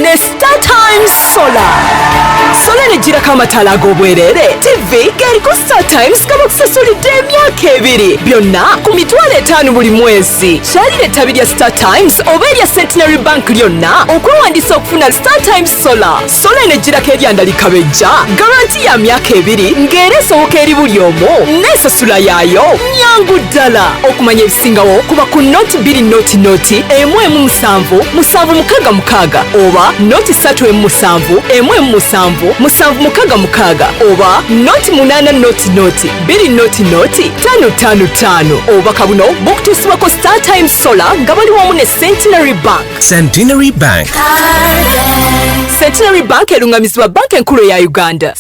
ne star times solar sola nejjirako amataala ag'obwereere tivi ng'eriko star times nga bakusasulidde emyaka ebiri byonna ku mitwalo etaano buli mwezi kyalira ettabi lya star times oba erya centenary bank lyonna okwewandiisa okufuna star times solar sola enejjirako eryandalika bejja garanti ya myaka ebiri ng'era esoboka eri buli omu n'esasula yaayo nyangu ddala okumanya ebisingawo kuba ku noti bbiri noti noti emu emu musanvu musanvu mukaaga mukaaga oba noti ssatu emu musanvu emu emu musanvu musanvu mukaaga mukaaga oba noti munaana noti noti bbiri noti noti ttaano ttaano ttaano obubaka buno bukutuusibwako star time solar nga bali wamu ne centenary bank centenary bank centenary bank erungamizibwa banka enkulu eya uganda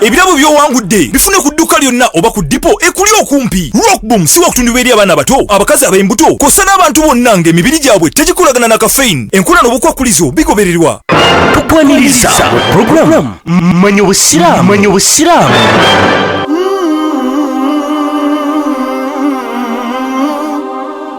ebirabo by'owangudde bifune ku dduuka lyonna oba ku dipo ekuli okumpi rockboom si wakutundibwa eri abaana abato abakazi ab'embuto kosa n'abantu bonna ng'emibiri gyabwe tegikolagana na kafein enkola n'obukwakkulizo bigobererwa tukwaniriza programu manya obusiraamu manya obusiraamu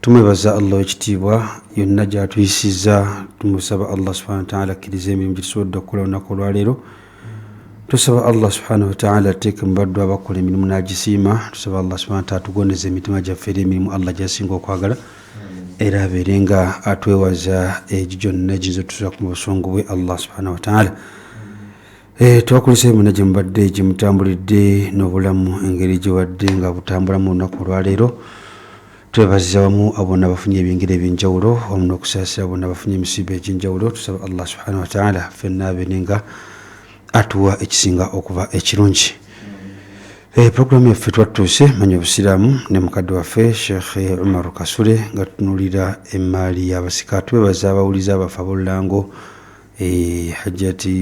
tumwebaza allah owekitiibwa yonna gyatuyisiza tumusaba allah subhana wataala akkiriza emirimu gyetusobodde okukola olunaku olwaleero tusaba allah subhanahu wataala ateeke mubaddu abakola emirimu nagisiima tusaba allah subhana wataala tugondeza emitima gyaffe era emirimu allah gyasinga okwagala era abeere nga atwewaza egyo gyonna egiyinza otusa ku mubusungu bwe allah subhana wataala Eh, twakulisa emina gye mubadde gye mutambulidde n'obulamu engeri gye wadde nga butambulamu olunaku olwaleero twebaziza wamu abona abafunye ebyengeri ebyenjawulo wamu n'okusaasira bona abafunye emisiiba egy'enjawulo tusaba allah subhanahu wataala fenna abene nga atuwa ekisinga okuba ekirungi eh, puroguramu yaffe twatuuse manya obusiraamu ne mukadde waffe sheekh umaru kasule nga tutunulira emmaali y'abasika twebaza abawuliza abafe ab'olulango Eeh hajjati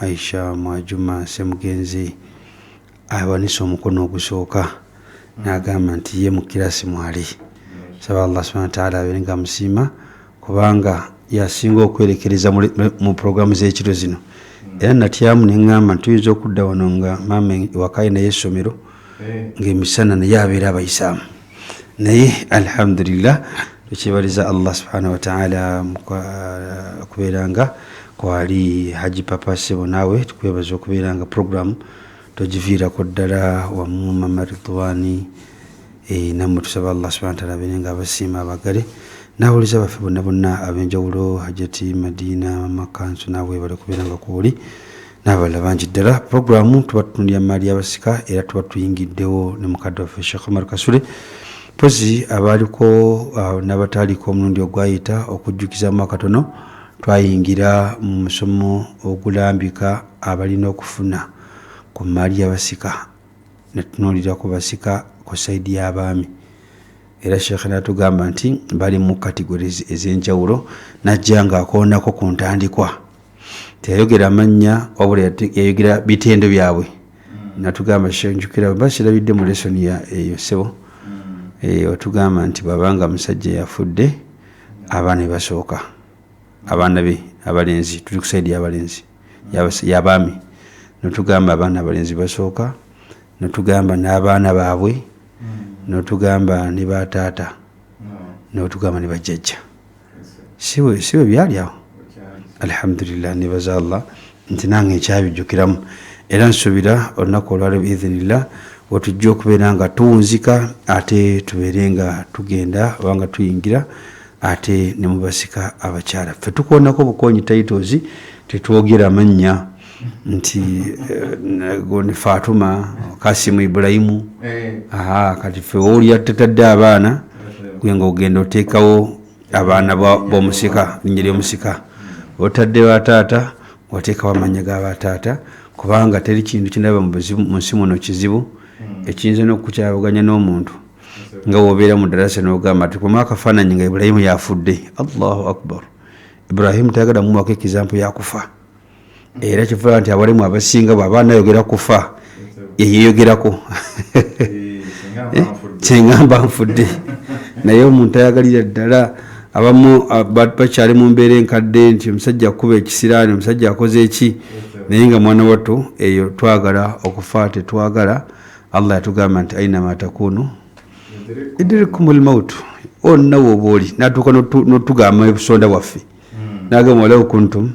Aisha Mwajuma Ssemugenzi awanise omukono ogusooka n'agamba nti ye mu kirasi mwali saba Allah subhana wataala abeere nga amusiima kubanga yasinga okwerekereza mu pulogulaamu z'ekiro zino era natyamu ne ŋŋamba nti tuyinza okudda wano nga maama ewaka alinayo essomero ng'emisana naye abeera abayisaamu naye alhamdulillah tukyebaliza allah subhanahu wataala kubeeranga kwali haji papa sebo naawe tukwebaza okubeeranga programu togiviirako ddala wamu mama ridwani eh, namwe tusaba allah subhana wataala abeere nga abasiima abagale nawuliza baffe bonna bonna abenjawulo hajati madina mama kansu naawe bali kubeeranga kwoli n'abalala bangi ddala pulogulaamu tuba tutunulira mu maali y'abasika era tuba tuyingiddewo ne mukadde waffe sheekh omar kasule mpozi abaaliko uh, n'abataaliko omulundi ogwayita okujjukizamu akatono twayingira mu musomo ogulambika abalina okufuna ku maali y'abasika netunuulira ku basika ku saidi y'abaami era sheekhe natugamba nti bali mu kategori ez'enjawulo najja ng'akoonako ku ntandikwa teyayogera mannya wabula yayogera bitendo byabwe hmm. natugamba shenjukira ba kirabidde mu lesoni ya eyo sebo hmm. eh, watugamba nti babanga musajja yafudde abaana bebasooka abaana be abalenzi tuli kusaidi yabalenzi yabaami notugamba abaana abalenzi basooka notugamba n'abaana baabwe hmm. notugamba ne bataata notugamba ne bajjajja si bwe byali awo alhamdulillah nebaza allah nti nange nkyabijjukiramu era nsuubira olunaku olwaleo biidhinillah wetujja okubeera nga tuwunzika ate tubeere nga tugenda obanga tuyingira ate ne mubasika abakyala ffe tukoonako bukoonyi titles tetwogera mannya nti eh, gondi fatuma kasimu ibulayimu eh. aha kati fe woolya tatadde abaana gwe nga ogenda oteekawo abaana bomusika linnya lyomusika otadde bataata wateekawo amanya ga bataata kubanga teri kintu kinaba mu nsi muno kizibu hmm. ekiyinza nokukyabuganya n'omuntu nga wobeera mu darasa nogamba ti kuma akafaananyi nga ibulayimu yafudde allahu akbar ibrahimu tayagala mumuwako ekizampu yakufa era kifuula nti abalemu abasinga bwaba anayogera kufa yeyeyogerako kyengamba eh, nfudde naye omuntu ayagalira ddala abamu bakyali mu mbeera enkadde nti omusajja akuba ekisiraani omusajja akoze eki naye nga mwana wattu eyo twagala okufa tetwagala allah yatugamba nti ainama takunu idirikumulmautu onna woba oli natuuka notugamba ebusonda bwaffe hmm. nagamba walau kuntum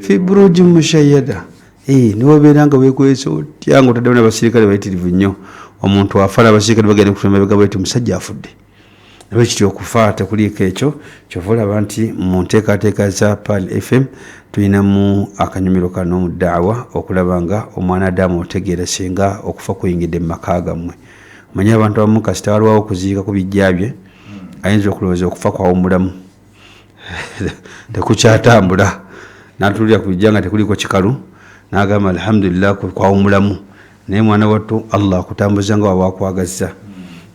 fi buruji mushayada eh, niwabeera nga wekwesa otya nga otaddemu nabasirikale bayitirivu nnyo omuntu afa nabasirikale bagenda kutemabega bweti omusajja afudde nabwe kityo okufa tekuliiko ekyo kyova olaba nti mu nteekateeka za pal fm tulinamu akanyumiro kano mu daawa okulaba nga omwana adamu otegeera singa okufa kuyingidde mu maka gammwe manye abantu abamu kasita walwawo okuziika ku bijja bye ayinza okulowooza okufa kwawumulamu tekukyatambula natulira ku bijja nga tekuliko kikalu nagamba alhamdulillah kwawumulamu naye mwana wattu allah akutambuza nga waba akwagazza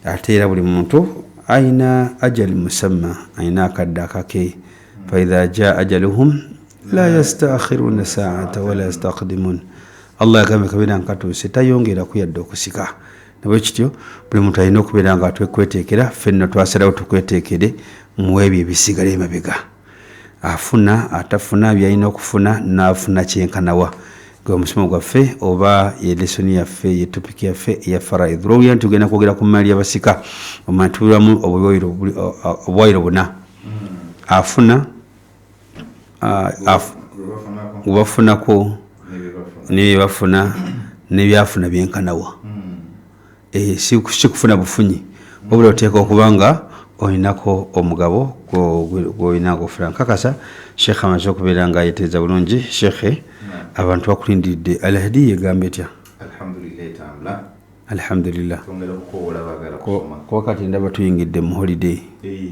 ate era buli muntu aina ajali musamma aina akadde akake faidha jaa ajaluhum la yastakhiruna saata wala yastakdimun allah yagambye kabeera nkatuuse tayongeraku yadde okusika nabwekityo buli muntu alina okubeera nga twekweteekera ffenno twasalawo tukweteekere mu ebyo ebisigala emabega afuna atafuna byalina okufuna naafuna kyenkanawa gwe omusomo gwaffe oba yelesoni yaffe yetopic yaffe eya faraid lwowulira nti ogenda kwogera ku maali yabasika omantubiramu obwayiro buna afuna gwebafunako nebyebafuna nebyafuna byenkanawa hmm. eh, sikufuna bufunyi wabula oteeka okuba nga olinako omugabo gwolina gofuna nkakasa sheekhe amaze okubeera nga ayeteeza bulungi sheekhe hmm. abantu bakulindiridde alahdi yegamba etya alhamdulillah kuba kati ndaba tuyingidde mu holiday eh.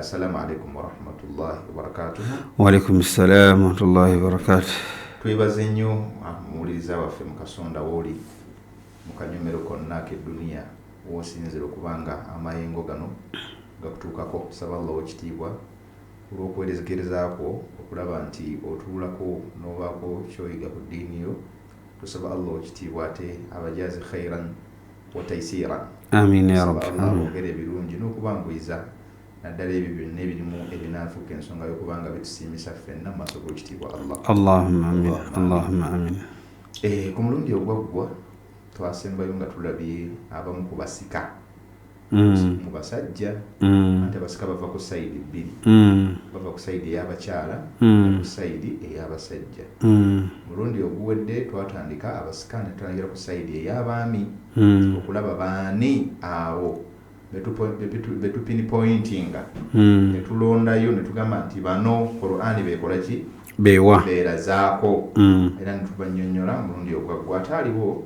Assalamu alaikum warahmatullahi wabarakatuh. Wa alaikum salam warahmatullahi wabarakatuh. Twebaze nnyo ah, muwuliriza waffe mu kasonda wooli mu kanyomero konna ak'edduniya w'osinzira okuba nga amayengo gano gakutuukako. Saba Allah ow'ekitiibwa olw'okuwerezekereza kwo okulaba nti otuulako n'obaako kyoyiga ku ddiini yo. Tusaba Allah ow'ekitiibwa ate abajazi khairan wataisira amin yarab ogere ebirungi n'okubanguyiza naddala ebyo byonna ebirimu ebinaafuuka ensonga yokubanga bitusiimisa ffenna mu maaso g'ekitiibwa allah allahumma amin allahumma amin eh, ku mulundi ogwaggwa twasembayo nga tulabye abamu ku basika Mm. mu basajja mm. anti abasika bava ku sayidi bbiri mm. bava ku sayidi eyabakyala ku sayidi eyabasajja Omulundi oguwedde twatandika abasika ne tutandikira ku sayidi ey'abaami okulaba baani abo be tupinipoyintinga ne tulondayo ne tugamba nti bano Kuraani b'ekola ki? B'erazaako era ne tubannyonnyola. Omulundi ogwaggwa ataaliwo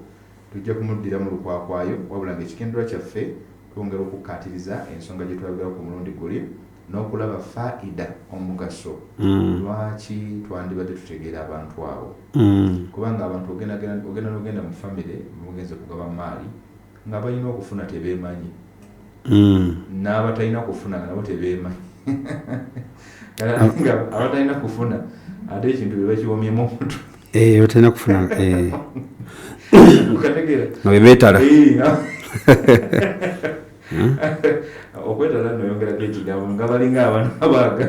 tujja kumuddiramu lukwakwayo wabula ng'ekigendererwa kyaffe twongera okukkaatiriza ensonga gye twayogerako ku mulundi guli. n'okulaba faida, omugaso, lwaki twandibadde tutegeera abantu abo. Kubanga abantu ogenda n'ogenda mu famire mwe mugenze kugaba mmaali, ng'abalina okufuna tebeemanyi, n'abatalina kufuna nga nabo tebeemanyi. abatalina kufuna ate ekintu be bakiwomyemu omutwe eh, batalina kufuna eh. nga bebetala eh, Hmm? okwetala noyongerako ekigambo nga balinga abana abaaga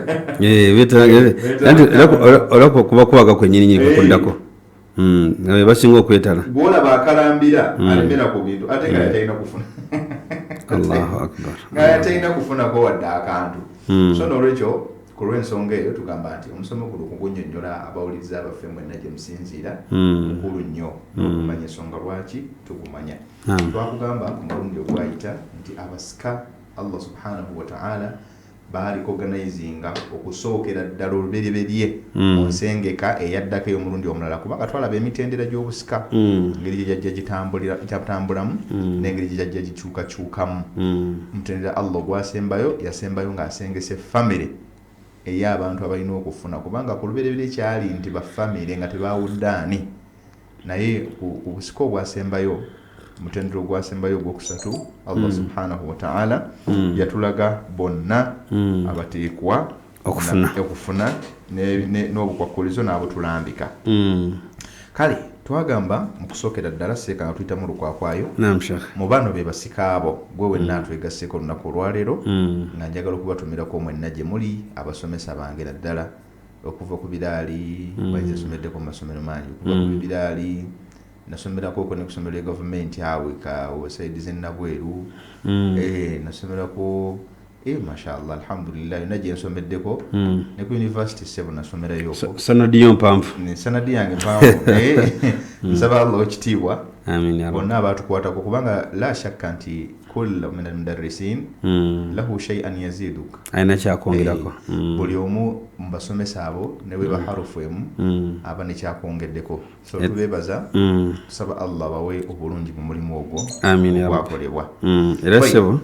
olaba kuba kwaga kwenyini nyini kukuddako hmm, nga be basinga okwetala gwolaba akalambira hmm. alemera ku bintu ate nga yatalina kufuna allahu akbar nga yatalina kufunako wadde akantu so nolwekyo ku lw'ensonga eyo tugamba nti omusomo guno kugunyonyola abawuliriza abaffe mwenna gye musinziira mukulu nnyo okumanya ensonga lwaki tugumanya twakugamba ku mulundi ogwayita nti abasika allah subhanahu wataala baalikoganizinga okusookera ddala olubereberye hmm. mu nsengeka eyaddako ey'omulundi omulala kubanga twalaba emitendera gy'obusika hmm. engeri gye gyajja gitambulamu hmm. n'engeri gye gyajja gikyukakyukamu omutendera allah ogwasembayo yasembayo ng'asengese famire ey'abantu abalina okufuna kubanga ku lubereberye kyali nti bafamire nga tebawuddaani Naye ku busika obwasembayo, omutendera ogwasembayo ogwokusatu, Allah hmm. subhanahu wataala hmm. yatulaga bonna hmm. abateekwa okufuna n'obukwakkulizo n'abutulambika. Kale twagamba mu kusookera ddala seeka nga tuyitamu olukwakwayo mu bano be basika abo gwe wenna mm. atwegasseeko olunaku olwaleero mm. nga njagala okubatumirako mwenna gye muli abasomesa bange naddala okuva ku biraali mm. bayizi asomeddeko mu masomero mangi okuva ku mm. biraali nasomerako oko ne kusomero lya gavumenti awo eka osaidi zenabweru mm. eh, nasomerako eh, mashallah alhamdulillah yona gyensomeddeko ne ku univesity sebo nasomerayo sanadi yo mpanvu sanadi yange mpanvu eh, nsaba allah okitiibwa bonna abaatukwatako kubanga la shakka nti kullu min almudarrisin mm. lahu shay'an yaziduk alina kyakwongerako eh, mm. buli omu mu basomesa abo ne bwe baharufu mm. emu mm. aba ne kyakwongeddeko so eh. tubeebaza mm. tusaba allah bawe obulungi mu mulimu ogwo gwakolebwa mm. era sebo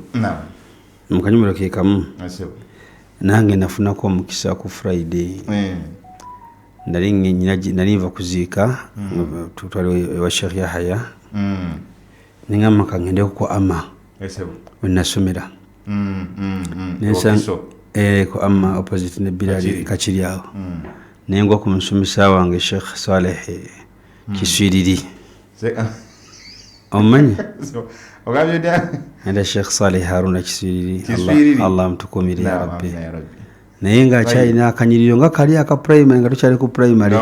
mu kanyumiro ke kamu ah, nange nafunako omukisa ku friday eh. nali nali nva kuziika mm. twali ewa sheikh yahaya mm. nengamba kangende ku ama wenasomera mm, mm, mm. eh, ku ama opposite ne birali kakiri awo nengwa ku musomesa wange sheikh saleh kiswiriri ah. omanyi era sheikh saleh haruna kiswiriri allah amutukumire yarabbi naye nga akyalina akanyiriro nga kali aka primary nga tukyali ku primary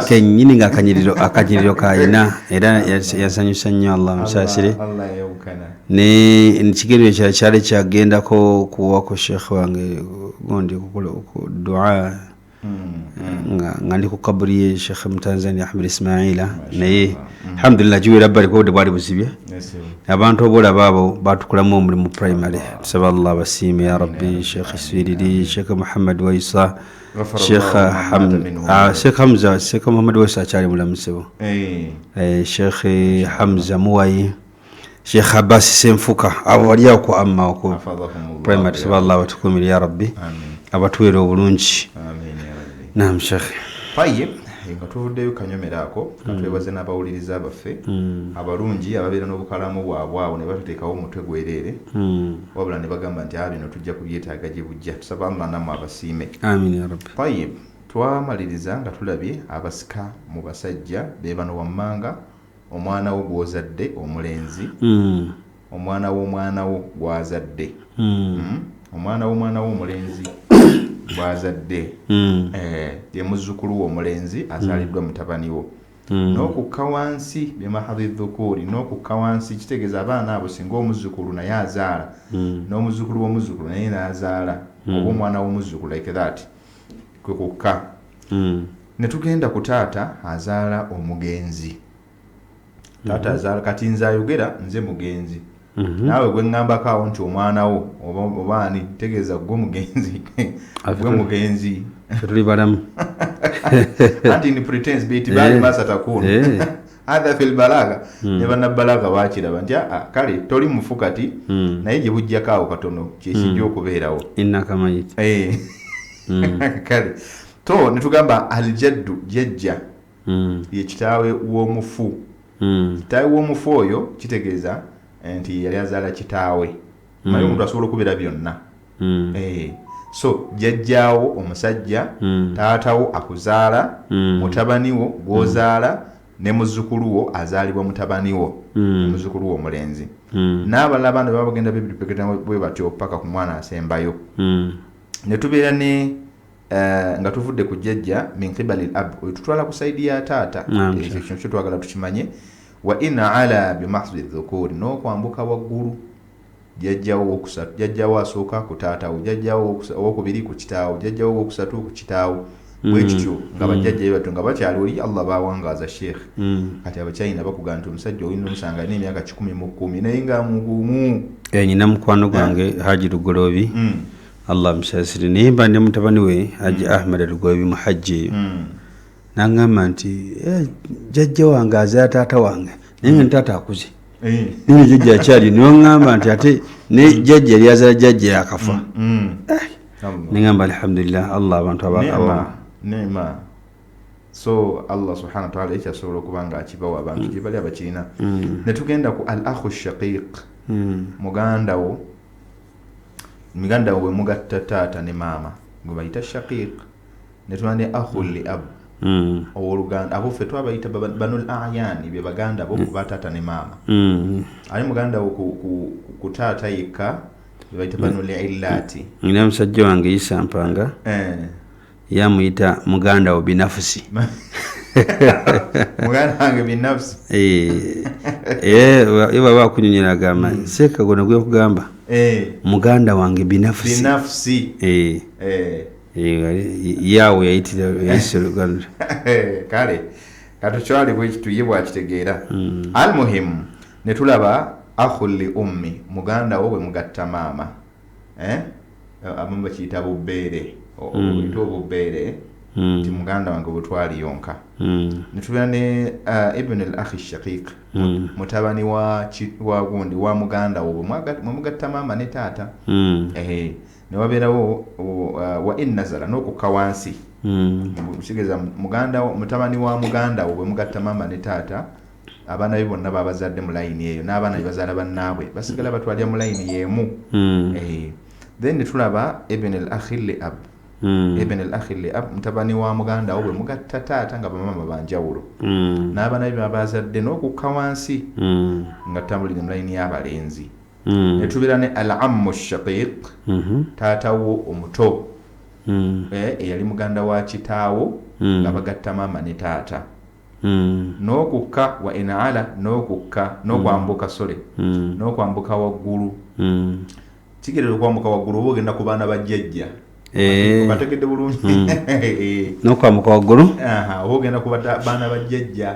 kenyini nga akanyiriro akanyiriro kayina era yasanyusa nnyo allah musaasire nekigendero kyala kyali kyagendako kuwaku sheekh wange gundi dua nga nga ndi ku kaburi ye shekhe mutanzania ahmed ismaila naye mm. alhamdulillah giwera bali kuba bwali buzibye abantu obolaba abo batukulamu omulimu primary tusaba allah basiime ya rabbi shekhe swiriri shekhe muhammad waisa shekhe ah, hamza shekhe muhammad waisa akyali mulamu sebo eh. eh, shekhe hamza muwayi Sheikh Abbas Senfuka abo bali awo ku amma oku primary saba Allah abatukumire ya rabbi abatuwere obulungi naam Sheikh Tayyib nga tuvuddeyo kanyomero ako nga mm. twebaze n'abawuliriza baffe mm. abalungi ababeera n'obukalamu bwabwe awo ne batuteekawo omutwe gwereere mm. wabula ne bagamba nti a bino tujja kubyetaaga gye bujja tusaba allah namu abasiime Tayyib twamaliriza nga tulabye abasika mu basajja be bano wammanga omwana wo gw'ozadde omulenzi omwana w'omwana wo gw'azadde hmm? omwana w'omwana wo omulenzi gw'azadde hmm. eh, ye muzzukulu wo omulenzi azaaliddwa hmm. mutabani wo hmm. n'okukka wansi bimahadhi dhukuuri n'okukka wansi kitegeeza abaana abo singa omuzzukulu naye azaala n'omuzzukulu w'omuzzukulu naye n'azaala oba omwana w'omuzzukulu like that kwe kukka mm. ne tugenda ku taata azaala omugenzi taata mhm. azaala kati nze ayogera nze mugenzi mhm. naawe gwe ŋŋambako awo nti omwana wo oba ani tegeeza gwe mugenzi gwe mugenzi tuli balamu anti ni pretence beti bali eh. masatakuno eh. hadha fil balaga mm. ne bannabalaga bakiraba nti aa ah, ah, kale toli mufu kati mm. naye gye bujjako awo katono kyekijja mm. okubeerawo eh. mm. kale to ne tugamba aljaddu jajja mm. ye kitaawe w'omufu mm. kitaawe w'omufu oyo kitegeeza eh, nti yali azaala kitaawe mm. naye omuntu asobola okubeera byonna mm. eh, so jajjaawo omusajja mm. taatawo akuzaala mm. mutabaniwo gwozaala mm. ne muzukuluwo azaalibwa mutabaniwo mm. muzukuluwo omulenzi mm. n'abalala abaana baba bagenda bebipeketa bwe batyo paka ku mwana asembayo mm. ne tubeera ne Eh, nga tuvudde ku jjajja min qibali l ab oyo tutwala ku saidi ya taata ekyo kino kyo twagala tukimanye Wa in ala bi mahdhi dhukuuri, n'okwambuka waggulu, jjajja wo ow'okusatu, jjajja wo asooka ku taata wo, jjajja wo ow'okubiri ku kitaawo, jjajja wo ow'okusatu ku kitaawo, bwe kityo nga bajjajja be batyo nga bakyali oli Allah baawangaaza sheikh. Kati Abachina bakugamba nti omusajja olina omusanga alina emyaka kikumi mu kkumi naye nga mugumu. Eh, nina mukwano gwange eh. Haji Lugoloobi mm. Allah amusaasire naye mba ne mutabani we Haji mm. Ahmed Lugoloobi muhajji mm. nangamba nti eh, jajja wange azaa taata wange naye nga nitaata akuze eh. nene jajja akyali newagamba nti ate ne mm. jajja yali azala jajja yakafa mm, mm. Eh. nengamba alhamdulillah allah abantu abakama so allah subhana wataala ekyasobola okuba nga akibawa abantu gyebali abakirina netugenda ku al ahu shaqiq mugandawo mugandawo wemugatta taata ne maama gwebayita shaqiq ne tuba ne ahul li ab mm. owoluganda abo ffe twabayita banul ayani be baganda bo mm. kuba taata ne maama mm. ali muganda wo ku, ku, ku taata yekka bebayita banul illati nina musajja wange yisa mpanga eh. yamuyita muganda wo binafusi muganda wange binafusi eh. eh, ye baba akunyonyera agamba mm. seeka gona gwekugamba eh. muganda wange binafusi binafusi eh. Eh. yawo yayitira yayisa oluganda kale katukyali bwekitu ye bwakitegeera mm. almuhimu ne tulaba ahuli ummi muganda wo bwe mugatta maama eh? abamu bakiyita bubbeere mm. ta obubbeere mm. nti muganda wange bwetwali yonka ne tubeera ne uh, ibn al ahi shaqiq mutabani wa gundi wa muganda wo bwe mugatta maama ne taata ne wabeerawo uh, wa ennazala n'okukka wansi hmm. kitegeeza muganda mutabani wa muganda wo bwe mugatta maama ne taata abaana be bonna babazadde mu layini eyo n'abaana be bazaala bannaabwe basigala batwalira mu layini y'emu hmm. eh, then ne tulaba eben el akhir le ab hmm. eben el akhir le ab mutabani wa muganda wo bwe mugatta taata nga bamaama banjawulo n'abaana be babazadde n'okukka wansi nga tutambulire mu layini y'abalenzi mm. netubeera ne al ammu shaqiq mm -hmm. taata wo omuto mm. eh, eyali muganda wa kitaawo mm. nga bagatta maama ne taata mm. n'okukka wa enaala n'okukka n'okwambuka mm. sole mm. n'okwambuka waggulu mm. kigerera okwambuka waggulu oba ogenda ku baana ba jjajja Eh. bategedde bulungi hmm. eh. nokwamuka waggulu oba ogenda kubaana bajjajja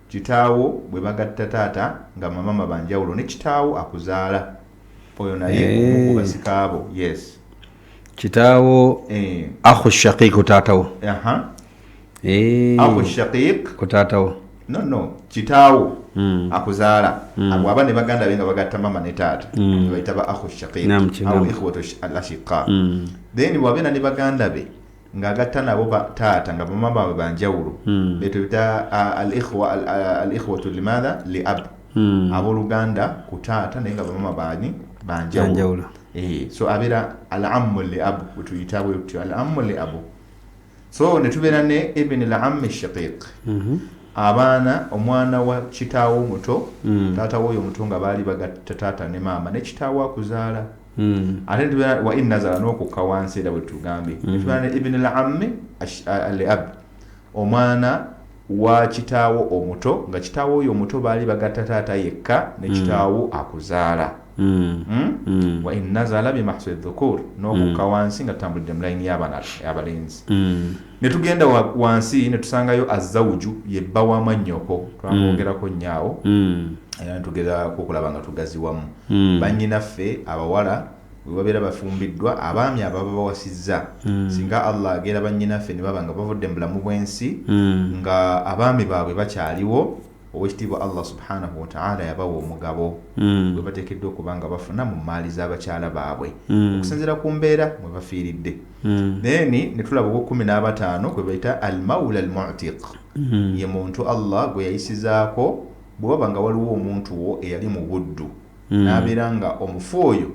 Kitaawo bwe bagatta taata nga mamama banjawulo ne kitaawo akuzaala oyo naye omu ku basika bo yes kitaawo eh. ahu shaqiq ku taata wo eh. ahu shaqiq ku taata wo no no kitaawo hmm. akuzaala hmm. abo aba ne baganda be nga bagatta mama ne taata hmm. nebayita ba ahu shaqiq au ikhwatu al ashiqa then bwabena ne baganda be ng'agatta nabo ba taata nga bamaama baabwe ba njawulo hmm. beeto bita alikhwatu limaatha li ab hmm. abooluganda ku taata naye nga bamaama baani ba njawulo eh, so abeera al ammu li abu wetuyita bwe tutyo al ammu li abu so ne tubeera ne ibini l ammi shaqiq mhm. abaana omwana wa kitaawo omuto hmm. taata wooyo omuto nga baali bagatta taata ne maama ne kitaawo akuzaala Hmm. ate netubeera wa in nazala n'okukka wansi era bwetugambye hmm. netubeera ne ibini lammi aliab omwana wa kitaawo omuto nga kitaawo oyo omuto baali bagatta taata yekka ne hmm. kitaawo akuzaala wa in nazala bimahsi dhukur n'okukka wansi nga tutambulidde mu layini y'abalenzi Ne tugenda wa, wansi ne tusangayo Azzawuju, ye bba wa mwannyoko. Twamwogerako nnyo awo. Era ne tugezaako okulaba nga tugaziwamu. Bannyinaffe abawala bwe babeera bafumbiddwa, abaami abo baba bawasizza. Singa Allah agera bannyinaffe ne baba nga bavudde mu bulamu bw'ensi, nga abaami baabwe bakyaliwo, Owekitiibwa Allah subhanahu wataala yabawa omugabo mm. gwe bateekeddwa okuba nga bafuna mu mmaali z'abakyala baabwe mm. okusinziira ku mbeera mwe bafiiridde mm. naye ni ne tulaba ogw'ekkumi n'abataano kwe bayita al maula al mutiq mm. ye muntu Allah gwe yayisizaako bwe waba nga waliwo omuntu wo eyali mu buddu mm. n'abeera nga omufu oyo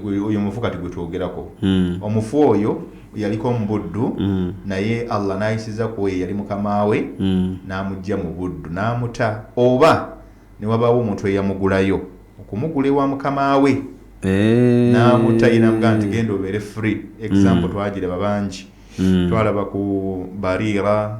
oyo mufu kati gwetwogerako mm. omufu oyo yaliko mubuddu mm. naye allah nayisiza ku oyo yali mukamaawe mm. namujja mu buddu namuta oba newabawo omuntu eyamugulayo okumugula ewa mukamaawe eh. namuta ye namuga nti genda obeere free example mm. twagiraba bangi mm. twalaba ku barira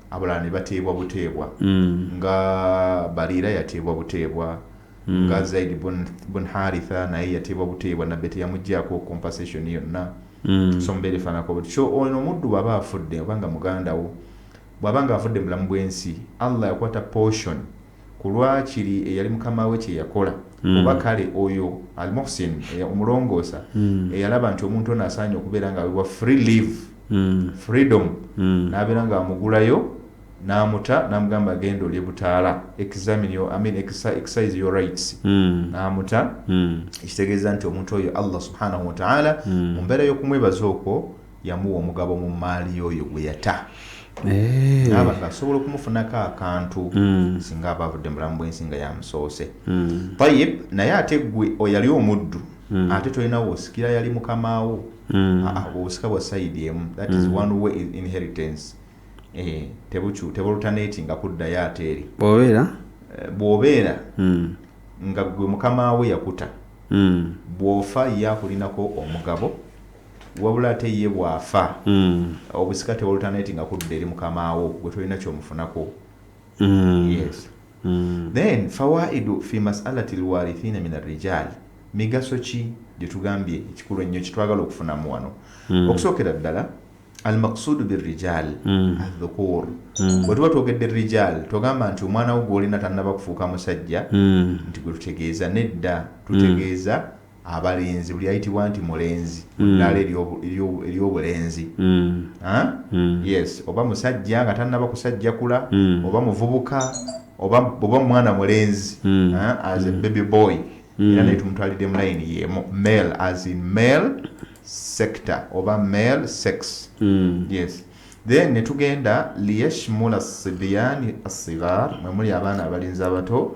abalala ne bateebwa buteebwa nga Bariira yateebwa buteebwa nga Zaid bun, bun Haritha naye yateebwa buteebwa nabbe teyamugyako compensation yonna so mubeera efaanako butyo so ono omuddu bw'aba afudde oba nga muganda wo bw'aba nga afudde mu bulamu bw'ensi Allah yakwata portion ku lwakiri eyali mukama we kye yakola mm. oba kale oyo almuhsin omulongoosa mm. eyalaba nti omuntu ono asaanye okubeera nga awebwa free live mm. freedom mm. n'abeera nga amugulayo n'amuta n'amugamba agenda olye butaala examine your, I mean, exercise your rights mm. n'amuta mm. ekitegeeza nti omuntu oyo allah subhanahu wataala mm. mu mbeera y'okumwebaza okwo yamuwa omugabo mu mmaali y'oyo gwe yata eh. naaba nga asobola okumufunako akantu hmm. singa aba avudde mulamu bwensi nga yamusoose hmm. tayib naye ate gwe oyali omuddu hmm. ate tolinawo osikira yali mukamaawo ah, ah, obusika bwa sayidi emu that is one way inheritance eh, tebucu tebulutaneti nga kuddayo ate eri bwobeera eh, bwobeera nga gwe mukamaawo yakuta bwofa ye akulinako omugabo wabula ate ye bw'afa obusika teboluternatinga kudda eri mukamaawo gwe tolina kyomufunako yes then fawaidu fi masalati lwarithina min arrijal migaso ki gyetugambye ekikulu ennyo kitwagala okufunamu wano okusookera ddala almaksudu birrijal adhukur bwe tuba twogedde rijal togamba nti omwana wo gwolina tannaba kufuuka musajja nti gwe tutegeeza nedda tutegeeza abalenzi buli ayitibwa nti mulenzi mm. ddaala ery'obulenzi mm. mm. yes oba musajja nga tannaba kusajjakula mm. oba muvubuka oba mwana mulenzi mm. as a mm. baby boy mm. era naye tumutwalidde mu layini yemu male as in male sector oba male sex mm. yes then netugenda liyashmula sibiyani asigar mwemuli abaana abalenzi abato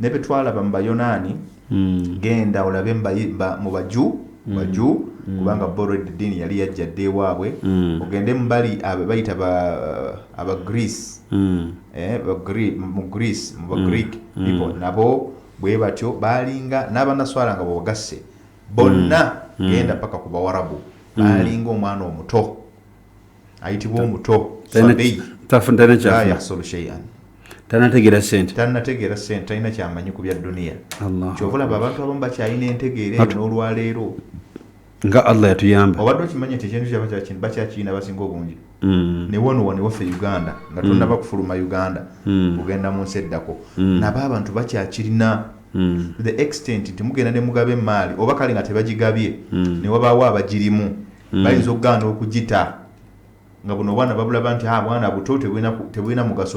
Ne bye twalaba mu Bayonaani, genda olabe mu Bayi- ba- mu Baju, Baju, kubanga bo olwedda eddiini yali yajja dda ewaabwe, ogende mu bali abo bayita ba- Abagreece, Mm. eh, Bagre- mu Greece, mu Bagreek people, nabo bwe batyo baalinga n'abanaswala nga bwebagasse bonna genda paka ku Bawarabu baalinga omwana omuto ayitibwa omuto tanategera sente tanategera sente talina kyamanyi ku bya duniya kyovolaba abantu abamu bakyalina entegeera eyo n'olwaleero nga allah yatuyamba obadde okimanyi nti ekintu kyaba kyakini bakyakiyina basinga obungi mm. ne wano wano waffe uganda nga mm. tonaba kufuluma uganda mm. kugenda mu nsi eddako nabo abantu bakyakirina the extent nti mugenda ne mugabe emaali oba kale nga tebagigabye ne wabaawo abagirimu mm. bayinza okugaana okugita nga buno obwana babulaba nti ah, bwana buto tebulina mugaso